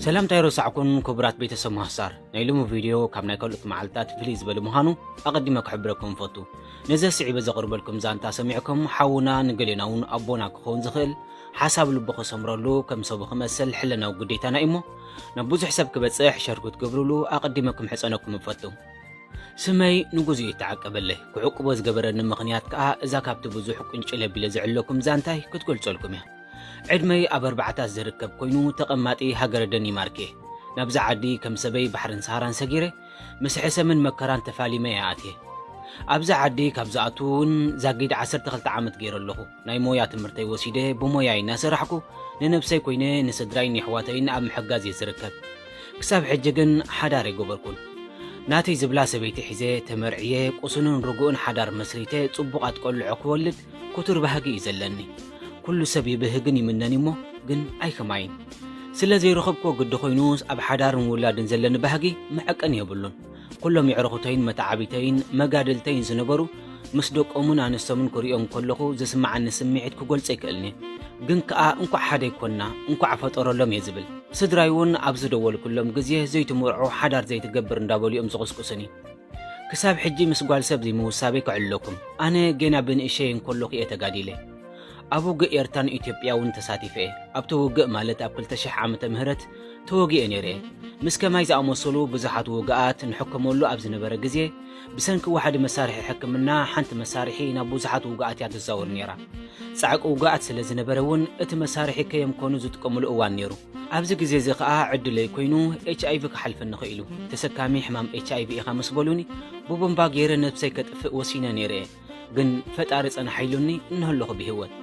ሰላምታይ ረሳዕኩን ክቡራት ቤተሰብ ማህሳር ናይ ሎሚ ቪድዮ ካብ ናይ ካልኦት መዓልትታት ፍልይ ዝበለ ምዃኑ ኣቐዲመ ክሕብረኩም ፈቱ ነዚ ስዒበ ዘቕርበልኩም ዛንታ ሰሚዕኩም ሓውና ንገሌና እውን ኣቦና ክኸውን ዝኽእል ሓሳብ ልቡ ክሰምረሉ ከም ሰቡ ክመስል ሕለናዊ ግዴታና እዩሞ ናብ ብዙሕ ሰብ ክበፅሕ ሸር ክትገብርሉ ኣቐዲመ ክምሕፀነኩም እፈቱ ስመይ ንጉዙ እዩ ተዓቀበለይ ክዕቅቦ ዝገበረኒ ምኽንያት ከዓ እዛ ካብቲ ብዙሕ ቁንጭለ ቢለ ዝዕለኩም ዛንታይ ክትገልፀልኩም እያ ዕድመይ ኣብ ኣርባዓታት ዝርከብ ኮይኑ ተቐማጢ ሃገረ ደኒማርክ'የ። ናብዛ ዓዲ ከም ሰበይ ባሕርን ሰሃራን ሰጊረ ምስ ሕሰምን መከራን ተፋሊመ'የ ኣትየ። ኣብዛ ዓዲ ካብ ዝኣቱ እውን ዛጊድ ዓሰርተ ክልተ ዓመት ገይረ ኣለኹ። ናይ ሞያ ትምህርተይ ወሲደ ብሞያይ እናሰራሕኩ ንነብሰይ ኮይነ ንስድራይን የሕዋተይን ኣብ ምሕጋዝ'የ ዝርከብ። ክሳብ ሕጂ ግን ሓዳር ኣይገበርኩን። ናተይ ዝብላ ሰበይቲ ሒዘ ተመርዕየ ቁሱንን ርጉእን ሓዳር መስሪተ ጽቡቓት ቆልዑ ክወልድ ኩቱር ባህጊ እዩ ዘለኒ ኩሉ ሰብ ይብህግን ይምነን እዩሞ ግን ኣይከማይን ስለ ዘይረኸብክዎ ግዲ ኮይኑስ ኣብ ሓዳርን ውላድን ዘለኒ ባህጊ መዐቀኒ የብሉን ኩሎም የዕርኹተይን መተዓብይተይን መጋድልተይን ዝነበሩ ምስ ደቆምን ኣንስቶምን ክርእዮም ከለኹ ዝስማዓኒ ስምዒት ክጎልጾ ኣይክእልንየ ግን ከኣ እንኳዕ ሓደይ ኮና እንኳዕ ፈጠረሎም እየ ዝብል ስድራይ እውን ኣብ ዝደወልኩሎም ግዜ ዘይትምርዖ ሓዳር ዘይትገብር እንዳበሉ እዮም ዝቕስቅሱኒ ክሳብ ሕጂ ምስ ጓል ሰብ ዘይምውሳበይ ክዕልለኩም ኣነ ጌና ብንእሸይ እንኮሎኩ እየ ተጋዲለ ኣብ ውግእ ኤርትራን ኢትዮጵያ ውን ተሳቲፈ እየ ኣብቲ ውግእ ማለት ኣብ ክልተ ሽሕ ዓመተ ምህረት ተወጊኤ ነይረ እየ ምስ ከማይ ዝኣመሰሉ ብዙሓት ውግኣት ንሕከመሉ ኣብ ዝነበረ ግዜ ብሰንኪ ዋሕዲ መሳርሒ ሕክምና ሓንቲ መሳርሒ ናብ ብዙሓት ውግኣት እያ ትዛወር ነይራ ጻዕቂ ውግኣት ስለ ዝነበረ ውን እቲ መሳርሒ ከየምከኑ ዝጥቀምሉ እዋን ነይሩ ኣብዚ ግዜ እዚ ከኣ ዕድለይ ኮይኑ ኤች ኣይቪ ክሓልፈኒ ኽኢሉ። ተሰካሚ ሕማም ኤች ኣይቪ ኢኻ ምስ በሉኒ ብቡምባ ገይረ ነብሰይ ከጥፍእ ወሲነ ነይረ እየ። ግን ፈጣሪ ጸናሕ ኢሉኒ እነሀለኹ ብህይወት።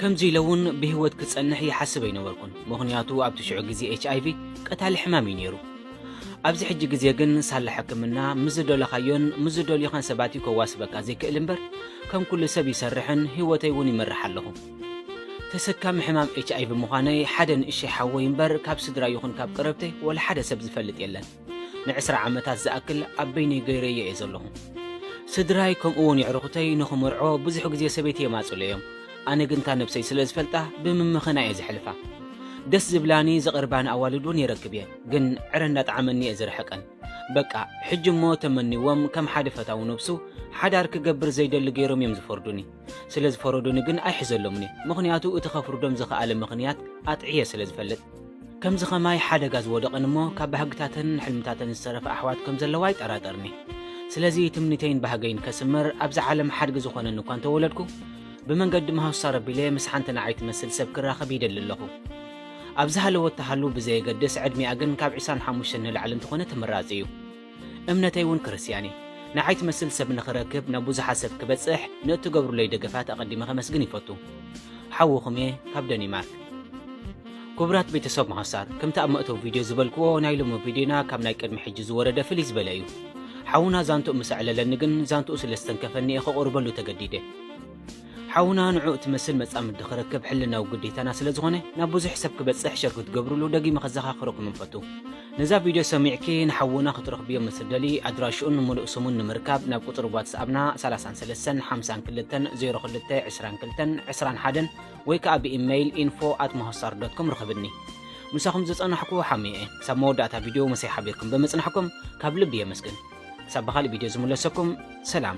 ከምዚ ኢለ እውን ብህይወት ክጸንሕ ይሓስብ ኣይነበርኩን ምኽንያቱ ኣብቲ ሽዑ ግዜ ኤች ኣይቪ ቀታሊ ሕማም እዩ ነይሩ። ኣብዚ ሕጂ ግዜ ግን ሳላ ሕክምና ምስ ዝደለኻዮን ምስ ዝደልዩኻን ሰባት እዩ ከዋስበካ ዘይክእል እምበር ከም ኩሉ ሰብ ይሰርሕን ህይወተይ እውን ይመርሕ ኣለኹ። ተሰካሚ ሕማም ኤች ኣይቪ ምዃነይ ሓደ ንእሸይ ሓወይ እምበር ካብ ስድራይ ይኹን ካብ ቀረብተይ ወላ ሓደ ሰብ ዝፈልጥ የለን። ንዕስራ ዓመታት ዝኣክል ኣብ በይነይ ገይረዮ እየ ዘለኹ። ስድራይ ከምኡ እውን የዕሩኹተይ ንኽምርዖ ብዙሕ ግዜ ሰበይተይ የማፅእሉ እዮም። ኣነ ግን እታ ነብሰይ ስለ ዝፈልጣ ብምምኽና እየ ዘሕልፋ። ደስ ዝብላኒ ዘቕርባኒ ኣዋልድ እውን የረክብ እየ ግን ዕረ እንዳጥዓመኒ እየ ዝርሕቀን። በቃ ሕጂ እሞ ተመንይዎም ከም ሓደ ፈታዊ ነብሱ ሓዳር ክገብር ዘይደሊ ገይሮም እዮም ዝፈርዱኒ። ስለ ዝፈረዱኒ ግን ኣይሕዘሎምን'የ፣ ምኽንያቱ እቲ ከፍርዶም ዝኸኣለ ምኽንያት ኣጥዕየ ስለ ዝፈልጥ። ከምዚ ኸማይ ሓደጋ ዝወደቐን እሞ ካብ ባህግታተንን ሕልምታተንን ዝተረፋ ኣሕዋት ከም ዘለዋ ኣይጠራጠርን'የ። ስለዚ ትምኒተይን ባህገይን ከስምር ኣብዛ ዓለም ሓድጊ ዝኾነኒ እኳ እንተወለድኩ፣ ብመንገዲ መሃሱሳር ኣቢለ ምስ ሓንቲ ንዓይ ትመስል ሰብ ክራኸብ ይደሊ ኣለኹ። ኣብ ዝሃለወት ትሃሉ ብዘየገድስ ዕድሚኣ ግን ካብ ዕስራን ሓሙሽተን ንላዕሊ እንተኾነ ተመራጺ'ዩ። እምነተይ እውን ክርስትያን እዩ። ንዓይ ትመስል ሰብ ንኽረክብ ናብ ብዙሓት ሰብ ክበጽሕ ንእትገብሩለይ ደገፋት ኣቐዲመ ከመስግን ይፈቱ። ሓውኹም እየ ካብ ደኒማርክ። ኩቡራት ቤተሰብ መሃሳር ክምቲ ኣብ መእተዊ ቪድዮ ዝበልክዎ ናይ ሎሚ ቪድዮና ካብ ናይ ቅድሚ ሕጂ ዝወረደ ፍልይ ዝበለ እዩ። ሓውና ዛንትኡ ምስ ኣዕለለኒ ግን ዛንትኡ ስለ ዝተንከፈኒ እየ ከቑርበሉ ተገዲደ። ሓውና ንዑ እትመስል መጻምዲ ክረክብ ሕልናዊ ግዴታና ስለ ዝኾነ ናብ ብዙሕ ሰብ ክበጽሕ ሸር ክትገብርሉ ደጊመ ከዘኻኽረኩም ንፈቱ። ነዛ ቪድዮ ሰሚዕኪ ንሓውና ክትረኽብዮ ምስ እትደልዪ ኣድራሽኡን ምሉእ ስሙን ንምርካብ ናብ ቁጽሪ ዋትስኣብና ሰላሳን ሰለስተን ሓምሳን ክልተን ዜሮ ክልተ ዕስራን ክልተን ዕስራን ሓደን ወይ ከኣ ብኢመይል ኢንፎ ኣት መሆሳር ዶት ኮም ርኸብኒ። ምሳኹም ዝጸናሕኩ ሓሙየ'የ። ክሳብ መወዳእታ ቪድዮ ምሳይ ሓቢርኩም ብምጽናሕኩም ካብ ልቢ የመስግን። ክሳብ ብኻልእ ቪድዮ ዝምለሰኩም ሰላም።